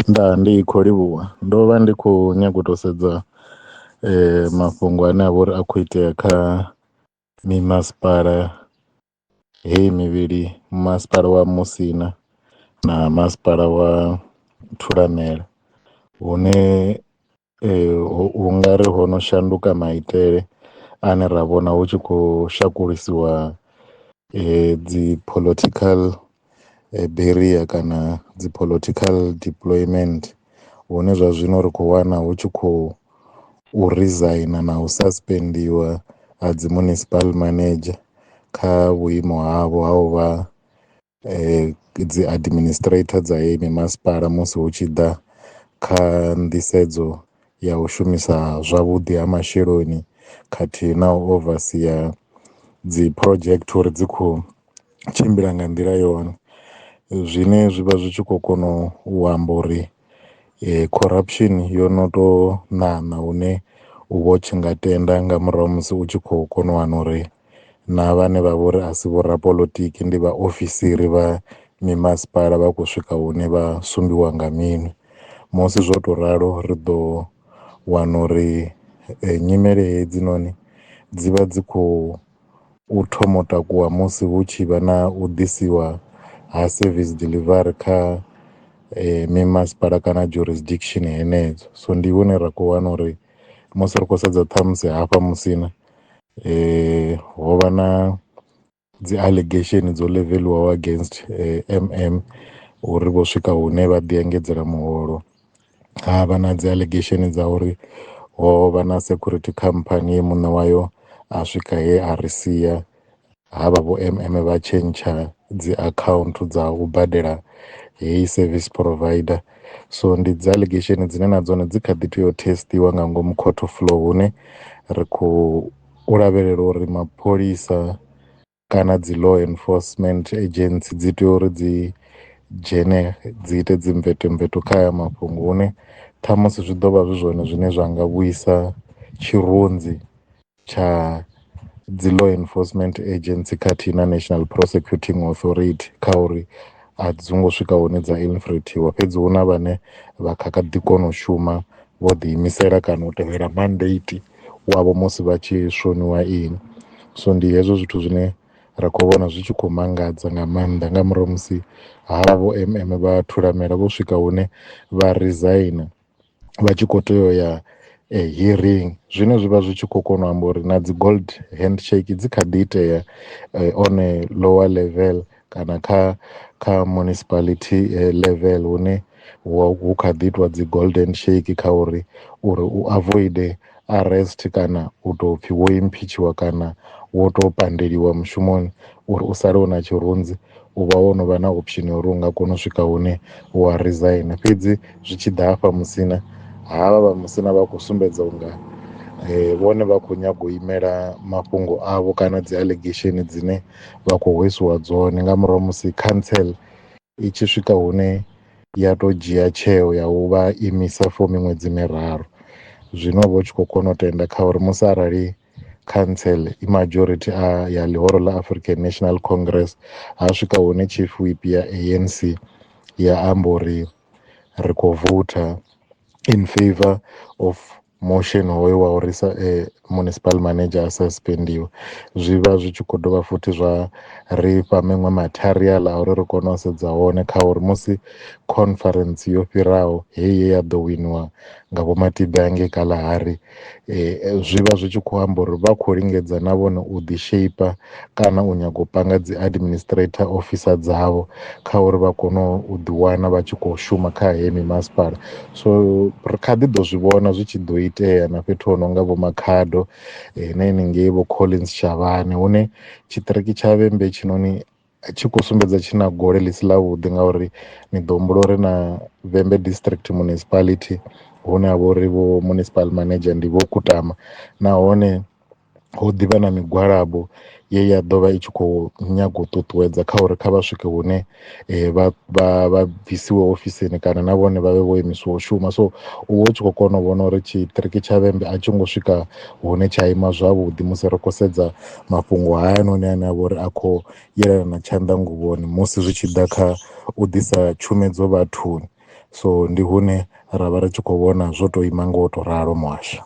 Ndaa ndi kho livhuwa ndo vha ndi kho nyaga u to sedza mafhungo ane a vha uri a kho itea kha mi masipala heyi mivhili masipala wa musina na masipala wa thulamela hune. Ee hu nga ri ho no shanduka maitele ane ra vhona hu tshi khou shakulisiwa dzi political barrier kana dzi political deployment, hune zwa zwino ri khou wana hu tshi khou u rizaina na u saspendiwa ha dzi municipal manager kha vhuimo havho ha u vha. dzi administrator dza heyi mimasipala musi hu tshi ḓa kha nḓisedzo ya u shumisa zwavhuḓi ha masheleni khathihi na u overseer dzi project uri dzi kho tshimbila nga nḓila yone, zwine zwi vha zwi tshi kho kona u amba uri corruption yo no to ṋaṋa hune u vha u tshi nga tenda nga murahu ha musi u tshi kho kona u wana uri na vhane vha vhori a si vho rapoḽotiki ndi vha ofisiri vha mimasipala vha khou swika hune vha sumbiwa nga minwe. Musi zwo tou ralo ri ḓo wana uri nyimele hedzi noni dzi vha dzi khou thoma u takuwa musi hu tshi vha na u ḓisiwa ha service delivery kha mimasipala kana jurisdiction henedzo, so ndi hune ra kho wana uri musi ri khou sedza ṱhamusi hafha musina. ho vha na dzi allegation dzo ḽivelwaho against MM uri vho swika hune vha ḓi engedzela muholo, ha vha na dzi allegation dza uri ho vha na security khamphani ye muṋe wayo a swika he a ri sia. ha vha vho M_M vha tshentsha dzi account dza u badela heyi service provider, so ndi dzi alegesheni dzine na dzone dzi kha ḓi tea u thesitiwa nga ngomu court of law hune ri khou lavhelela uri mapholisa kana dzi law enforcement agency dzi tea uri dzi dzhene dzi ite dzi mveto mveto kha haya mafhungo hune ṱhamusi zwi ḓo vha zwi zwone zwine zwa nga vhuisa tshirunzi tsha dzi law enforcement agency khathihi na National Prosecuting Authority kha uri a dzi ngo swika hune dza infiltrate-iwa fhedzi hu na vhane vha kha kha ḓi kona u shuma vho ḓi imisela kana u tevhela mandate wavho musi vha tshi shoniwa ini. So ndi hezwo zwithu zwine ra kho vhona zwi tshi kho mangadza nga maanḓa nga murahu ha musi havho M_M vha thulamela vho swika hune vha resigner. vha tshi kho tea u ya hearing zwine zwivha zwi tshi kho kona u amba uri na dzi gold hand shake dzi kha ḓi itea on a lower level kana kha kha municipality level hune hu kha ḓi itiwa dzi gold hand shake kha uri uri u avoid. arrest kana u tou pfhi wo imphitshiwa kana wo tou pandeliwa mushumoni uri u sale u na tshirunzi u vha wo no vha na option ya uri u nga kona u swika hune wa resign fhedzi zwi tshi ḓa hafha musina havha vha musina vha khou sumbedza unga eh, vhone vha khou nyaga u imela mafhungo avho kana dzi allegation dzine vha khou hwesiwa dzone nga murahu musi council i tshi swika hune ya to dzhia tsheo ya u vha imisa for miṅwedzi miraru zwino vha tshi kho kona u tenda kha uri musi arali council i majority a ya ḽihoro ḽa African National Congress ha swika hune chief whip ya ANC ya amba uri ri kho voter in favour of. motion hoyo wa uri sa municipal manager a suspendiwe zwi vha zwi tshi kho dovha futhi zwa ri fha miṅwe material a uri ri kone u sedza hone kha uri musi conference yo fhiraho heyi ye ya ḓo winiwa nga vho Matibe hangei Kalahari zwi vha zwi tshi khou amba uri vha khou lingedza na vhone u ḓi sheipa kana u nyaga u panga dzi administrator officer dzavho kha uri vha kone u ḓi wana vha tshi kho shuma kha heyi mimasipala so ri kha ḓi ḓo zwi vhona zwi tshi ḓo itea na fhethu ho no nga vho makhado eh, na henengei vho collins shavhane hune tshiṱiriki tsha vhembe tshinoni tshi khou sumbedza tshi na gole ḽi si ḽa vhuḓi ngauri ni ḓo humbula uri na vhembe district municipality hune ha vha uri vho municipal manager ndi vho kutama nahone hu ḓivha na migwalabo ye ya ḓovha i tshi kho nyaga u ṱuṱuwedza kha uri kha vha swike hune vha vha vha bvisiwa ofisini kana na vhone vhavhe vho imiswa u shuma, so u vha u tshi kho kona u vhona uri tshiṱiriki tsha vhembe a tshi ngo swika hune tsha ima zwavhuḓi musi ri khou sedza mafhungo haya noni ane avha uri a kho yelana na tshanḓanguvhoni musi zwi tshi ḓa kha u ḓisa tshumedzo vhathuni, so ndi hune ra vha ri tshi khou vhona zwo to ima ngo to ralo muhasho.